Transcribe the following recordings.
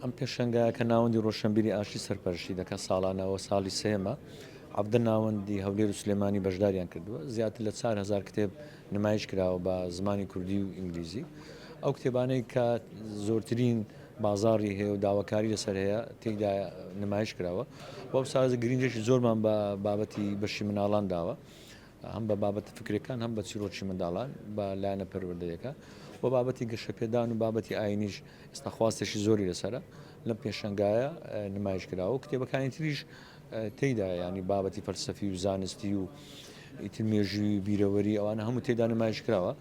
ئەم پێشەنگایە کە ناوەندی ڕۆشەنبیری ئاشتی سەرپەرشتی دەکات ساڵانە و ساڵی سێیەمە حەڤدە ناوەندی هەولێر و سلێمانی بەشداریان کردووە زیاتر لە چار هزار کتێب نمایش کراوە بە زمانی کوردی و ئینگلیزی ئەو کتێبانەی کە زۆرترین بازاری هەیە و داواکاری لەسەر هەیە تێیدا نمایش کراوە بەو سازە گرنگێکی زۆرمان بە بابەتی بەشی مناڵان داوە هەم بە بابەتە فکریەکان هەم بە چیرۆکی منداڵان بە لایەنە پەروەردەیەکە و بابەتی گەشەپێدان و بابەتی ئاینیش ئێستا خواستێکی زۆری لەسرە لەم پێشنگایە نمایش کراوە کتێبەکانی تریش تێدا ینی بابەتی فەلسەفی و زانستی و ئیتر مێژووی بیرەوەری ئەوانە هەموو تێدا نمایش کراوە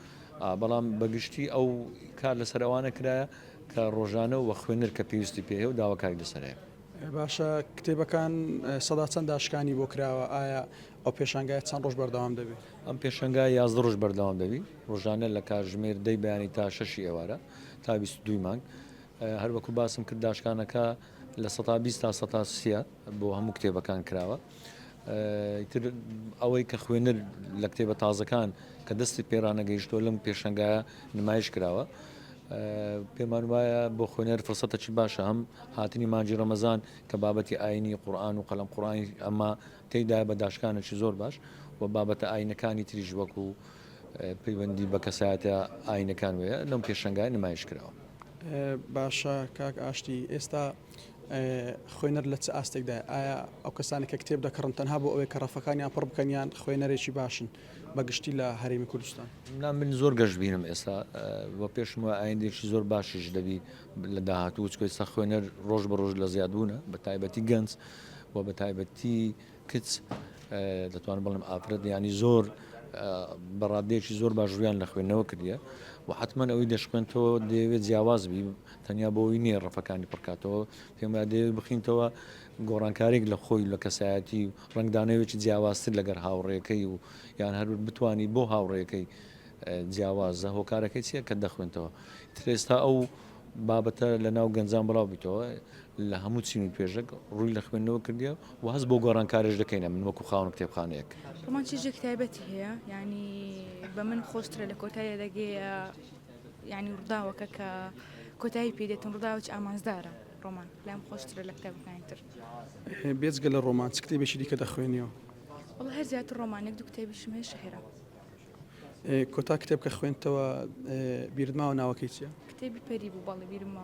بەڵام بەگشتی ئەو کار لەسەر ئەوانە کرایە کە ڕۆژانە و خوێنەر کە پێویستی پێ و داواکاری لەسەرەیە. باشە کتێبەکان سەدا چەند داشکانی بۆ کراوە ئایا ئەو پێشانگایە چەند ڕۆژ بەردەوام دەبێ؟ ئەم پێشەنگا یازدە ڕۆژ بەردەوام دەبی ڕۆژانە لە کارژمێر دەی بەیانی تا شەشی ئێوارە تا دوی مانگ هەروەکو باسم کرد داشکانەکە لە 120 تا 130 بۆ هەموو کتێبەکان کراوە تر ئەوەی کە خوێنەر لە کتێبە تازەکان کە دەستی پێرانەگەیشتۆ لەم پێشەنگە نمایش کراوە پێمان وایە بۆ خوێنەر فرسەتەکی باشە هەم هاتنی مانجی ڕەمەزان کە بابەتی ئاینی قورآان و قەلم قڕانی ئەمە تێیدایە بە داشکانێکی زۆر باش و بابەتە ئایینەکانی تریش وەکو پەیوەندی بە کەسایەتە ئایینەکان وەیە لەم پێشەنگای نمایش کراوە. باشە کاک ئاشتی ئێستا خوێنەر لە چ ئاستێکدا ئایا ئەو کەسانی کە کتێب دەکڕن تەنها بۆ ئەوەی کە ڕەفەکانیان پڕ بکەن یان خوێنەرێکی باشن بە گشتی لە هەرێمی کوردستان نا من زۆر گەشت بینم ئێستا بە پێشم وە ئایندێکی زۆر باشیش دەبی لە داهاتوو چکۆی سە خوێنەر ڕۆژ بە ڕۆژ لە زیادبوونە بە تایبەتی گەنج وە بە تایبەتی کچ دەتوانم بڵێم ئافرەت ینی زۆر بە ڕادێکی زۆر باش ڕویان لە خوێندنەوە کردە و حتمما ئەوی دەشخێنتەوە دەیەوێت جیاواز بی تەنیا بۆی نییە ڕفەکانی پڕکاتەوە پێما دەیەوێت بخینتەوە گۆڕانکارێک لە خۆی لە کەسایەتی و ڕنگدانەوێکی جیاوازتر لەگەر هاوڕێەکەی و یان هەرور بتانی بۆ هاوڕێەکەی جیاوازە هۆکارەکەی چییە کە دەخوێنتەوە ترێستا ئەو بابەتە لە ناو گەنجان بڵاو بیتەوە لە هەموو چین و توێژێک ڕووی لە خوێندنەوە کردیە و هەست بۆ گۆڕانکارێش دەکەینە من وەکو خاوەن کتێبخانەیەک هەمان چێژێک تایبەتی هەیە ینی بە من خۆشترە لە کۆتایە دەگەیە ینی ڕداوەکە کە کۆتایی پێدێتم ڕداوچ ئامانزدارە ڕۆمان لەم خۆشترە لە کتێبەکانی تر بێجگە لە ڕۆمان چ کتێبێکی دیکە دەخوێنیەوە هەر زیاتر ڕۆمانێک دو کتێبیشمێ شهێرە کۆتا کتێب کە خوێنتەوە بیردماوە ناوەکەی چیە؟ کتێبی پەری بوو بەڵی بیرمەوە.